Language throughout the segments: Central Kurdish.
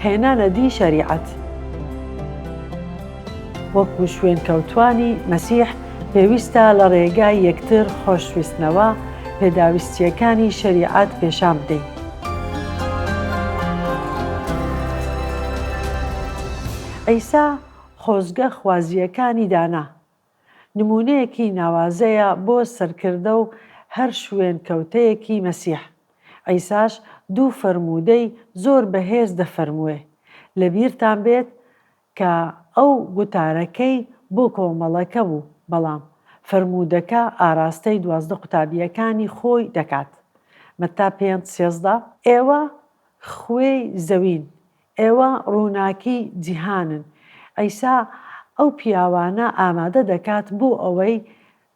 هێنانە دی شەریعەت وەکو شوێنکەوتوانی مەسیح پێویستە لە ڕێگای یەکتر خۆشویستنەوە پێداویستییەکانی شەریعەت پێشان بدەین. عیسا خۆزگە خوازییەکانی دانا. نموونەیەکی ناوازەیە بۆ سەرکردە و هەر شوێنکەوتەیەکی مەسیح. عیساش دوو فەرموودەی زۆر بەهێز دەفەرمووێ. لەبیرتان بێت کە ئەو گوتارەکەی بۆ کۆمەڵەکە بوو، بەڵام فەرموودەکە ئاراستەی دوازدە قوتابییەکانی خۆی دەکات، مەتا پێنج سێزدە. ئێوە خوێی زەوین، ئێوە ڕووناکی جیهانن. عیسا ئەو پیاوانە ئامادە دەکات بۆ ئەوەی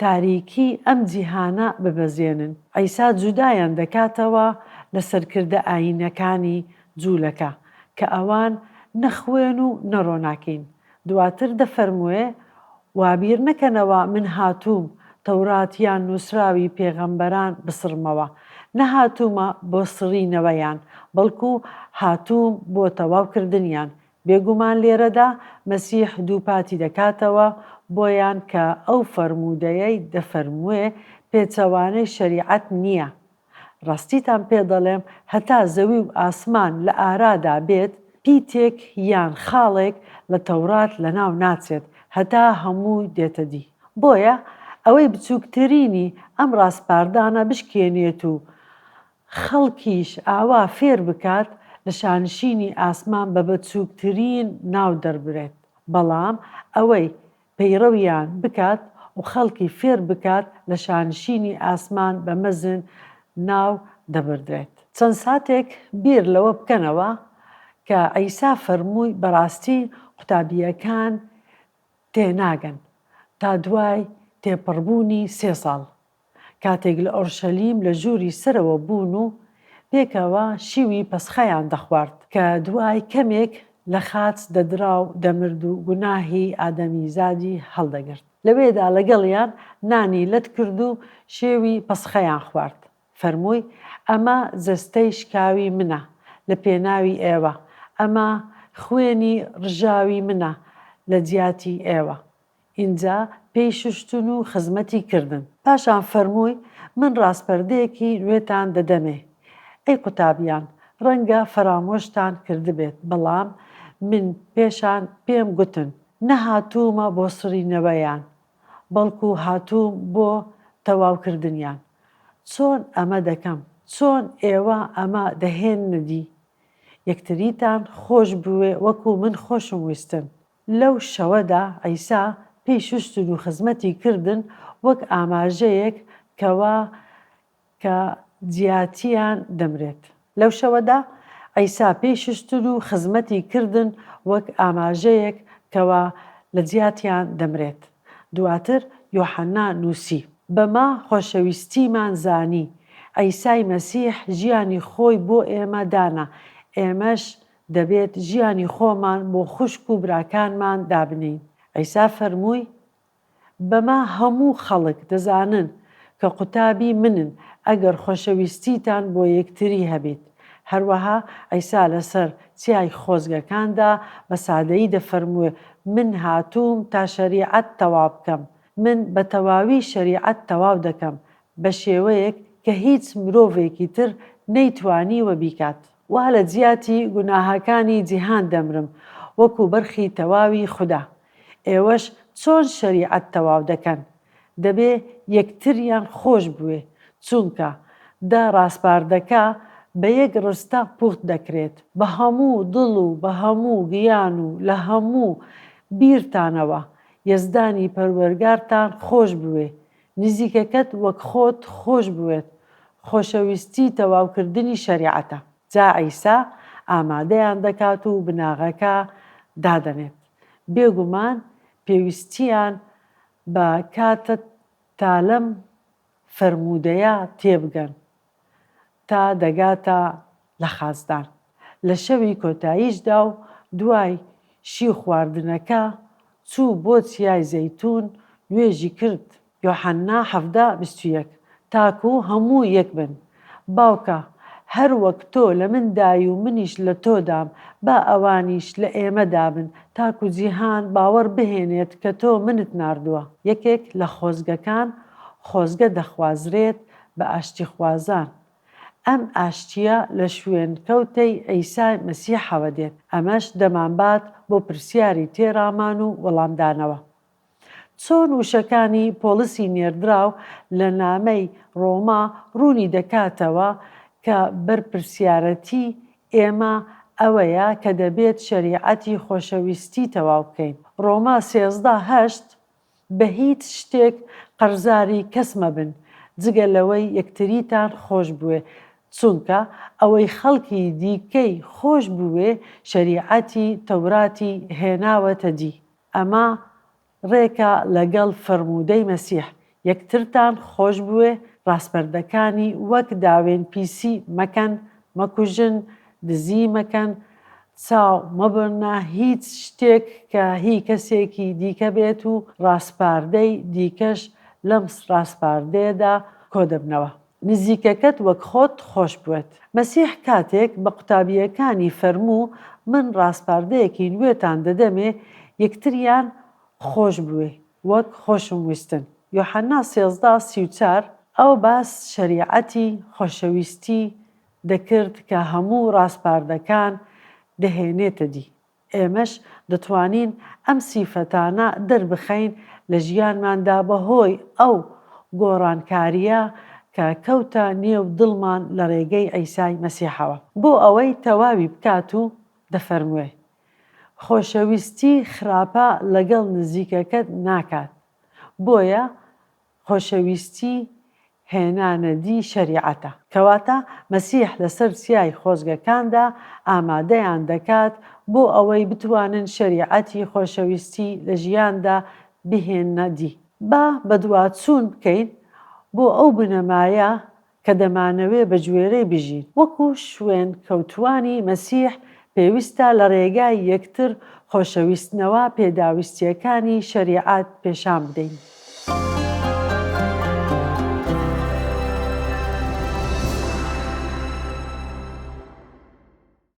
تاریکی ئەم جیهانە ببەزێنن. عیسا جودایان دەکاتەوە لە سەرکردە ئایینەکانی جوولەکە کە ئەوان نە خوێن و نە ڕۆناکین، دواتر دەفەرمووێ، وابیر نەکەنەوە من هاتووم تەورات یان نووسراوی پێغەمبەران بسڕمەوە، نەهاتوومە بۆ سڕینەوەیان، بەڵکو هاتووم بۆ تەواو کردنیان، بێگومان لێرەدا مەسیح دووپاتی دەکاتەوە بۆیان کە ئەو فەرموودەیەی دەفەرمووێ پێچەوانەی شەریعەت نییە، ڕاستیتان پێ دەڵێم هەتا زەوی و ئاسمان لە ئارادا بێت پیتێک یان خاڵێک لە تەوڕات لەناو ناچێت هەتا هەموو دێتە دی بۆیە ئەوەی بچووکترینی ئەم ڕاسپاردانە بشکێنێت و خەڵکیش ئاوا فێر بکات لە شانشینی ئاسمان بە بەچووکترین ناو دەربرێت بەڵام ئەوەی پەیڕەویان بکات و خەڵکی فێر بکات لە شانشینی ئاسمان بە مەزن ناو دەبردرێت. چەند ساتێک بیر لەوە بکەنەوە کە عیسا فەرمووی بەڕاستی قوتابییەکان تێناگەن تا دوای تێپەڕبوونی سێ ساڵ کاتێک لە ئۆرشەلیم لە ژووری سەرەوە بوون و پێکەوە شیوی پەسخایان دەخوارد کە دوای کەمێک لە خاچ دەدرا و دەمرد و گوناهی ئادەمیزادی هەڵدەگرت، لەوێدا لەگەڵیان نانی لەت کرد و شێوی پەسخایان خوارد، فەرمووی، ئەمە جەستەی شکاوی منە لە پێناوی ئێوە، ئەمە خوێنی ڕژاوی منە لە جیاتی ئێوە، ئینجا پێی شوشتن و خزمەتی کردن. پاشان فەرمووی، من ڕاسپەردەیەکی نوێتان دەدەمێ، ئەی قوتابیان، ڕەنگە فەرامۆشتان کردبێت، بەڵام من پێشان پێم گوتن، نەهاتوومە بۆ سڕینەوەیان، بەڵکو هاتووم بۆ تەواوکردنیان. چۆن ئەمە دەکەم؟ چۆن ئێوە ئەمە دەهێننە دی؟ یەکتریتان خۆش بوێ وەکو من خۆشم ویستن. لەو شەوەدا عیسا پێی شوشتن و خزمەتی کردن وەک ئاماژەیەک کەوا کە جیاتیان دەمرێت. لەو شەوەدا عیسا پێی شوشتن و خزمەتی کردن وەک ئاماژەیەک کەوا لە جیاتیان دەمرێت. دواتر یۆحەنا نووسی. بەمە خۆشەویستیمان زانی. عیسای مەسیح ژیانی خۆی بۆ ئێمە دانا، ئێمەش دەبێت ژیانی خۆمان بۆ خوشک و براکانمان دابنێین. عیسا فەرمووی، بەمە هەموو خەڵک دەزانن کە قوتابی منن ئەگەر خۆشەویستیتان بۆ یەکتری هەبێت. هەروەها عیسا لەسەر چیای خۆزگەکاندا بە سادەیی دەفەرموێت، من هاتووم تا شەریعەت تەواو بکەم. من بە تەواوی شەریعەت تەواو دەکەم، بە شێوەیەک کە هیچ مرۆڤێکی تر نەیتوانیوە بیکات. وا لە جیاتی گوناهەکانی جیهان دەمرم وەکو بەرخی تەواوی خودا. ئێوەش چۆن شەریعەت تەواو دەکەن؟ دەبێ یەکتریان خۆش بوێ، چونکە دە ڕاسپاردەکە بە یەک ڕستە پوخت دەکرێت. بە هەموو دڵ و بە هەموو گیان و لە هەموو بیرتانەوە یەزدانی پەروەرگارتان خۆش بوێ، نزیکەکەت وەک خۆت خۆش بوێت خۆشەویستی تەواوکردنی شەریعەتە. جا عیسا ئامادەیان دەکات و بناغەکە دادەنێت. بێگومان پێویستیان بە کاتە تالەم فەرموودەیە تێبگەن. تا دەگاتە لە خازدان لە شەوی کۆتاییشدا و دوای شی خواردنەکە چوو بۆ چیای زەیتوون نوێژی کرد، یۆحەنا حەڤدە بیست و یەک، تاکو هەموو یەک بن، باوکە، هەر وەک تۆ لە من دای و منیش لە تۆ دام، با ئەوانیش لە ئێمە دا بن، تاکو جیهان باوەڕ بهێنێت کە تۆ منت ناردووە. یەکێک لە خۆزگەکان خۆزگە دەخوازرێت بە ئاشتیخوازان. ئەم ئاشتییە لە شوێنکەوتەی عیسای مەسیحەوە دێت، ئەمەش دەمانبات بۆ پرسیاری تێڕامان و وەڵامدانەوە. چۆن وشەکانی پۆڵسی نێردراو لە نامەی ڕۆما ڕوونی دەکاتەوە کە بەرپرسیارەتیی ئێمە ئەوەیە کە دەبێت شەریعەتی خۆشەویستی تەواو بکەین، ڕۆما سێزدە، هەشت، بە هیچ شتێک قەرزاری کەس مەبن جگە لەوەی یەکتریتان خۆش بوێ چونکە ئەوەی خەڵکی دیکەی خۆش بوێ شەریعەتی تەوراتی هێناوەتە دی ئەمە ڕێکە لەگەڵ فەرموودەی مەسیح یەکترتان خۆش بوێ ڕاسپەردەکانی وەک داوێن پیسی مەکەن مەکوژن دزی مەکەن چاو مەبڕنە هیچ شتێک کە هی کەسێکی دیکە بێت و ڕاسپاردەی دیکەش لەم ڕاسپاردەیەدا کۆدەبنەوە. نزیکەکەت وەک خۆت خۆش بوێت. مەسیح کاتێک بە قوتابییەکانی فەرموو من ڕاسپاردەیەکی نوێتان دەدەمێ یەکتریان خۆش بوێ وەک خۆشم ویستن، یۆحەنا سێزدە سی و چوار، ئەوە باس شەریعەتی خۆشەویستی دەکرد کە هەموو ڕاسپاردەکان دەهێنێتە دی، ئێمەش دەتوانین ئەم سیفەتانە دەربخەین لە ژیانماندا بەهۆی ئەو گۆڕانکارییە کە کەوتە نێو دڵمان لە ڕێگەی عیسای مەسیحەوە. بۆ ئەوەی تەواوی بکات و دەفەرموێ، خۆشەویستی خراپە لەگەڵ نزیکەکەت ناکات، بۆیە خۆشەویستی هێنانەدی شەریعەتە. کەواتە مەسیح لەسەر چیای خۆزگەکاندا ئامادەیان دەکات بۆ ئەوەی بتوانن شەریعەتی خۆشەویستی لە ژیاندا بهێننەدی. با بەدواچوون بکەین بۆ ئەو بنەمایە کە دەمانەوێ بە گوێرەی بژین، وەکو شوێنکەوتووانی مەسیح پێویستە لە ڕێگای یەکتر خۆشەویستنەوە پێداویستییەکانی شەریعەت پێشان بدەین.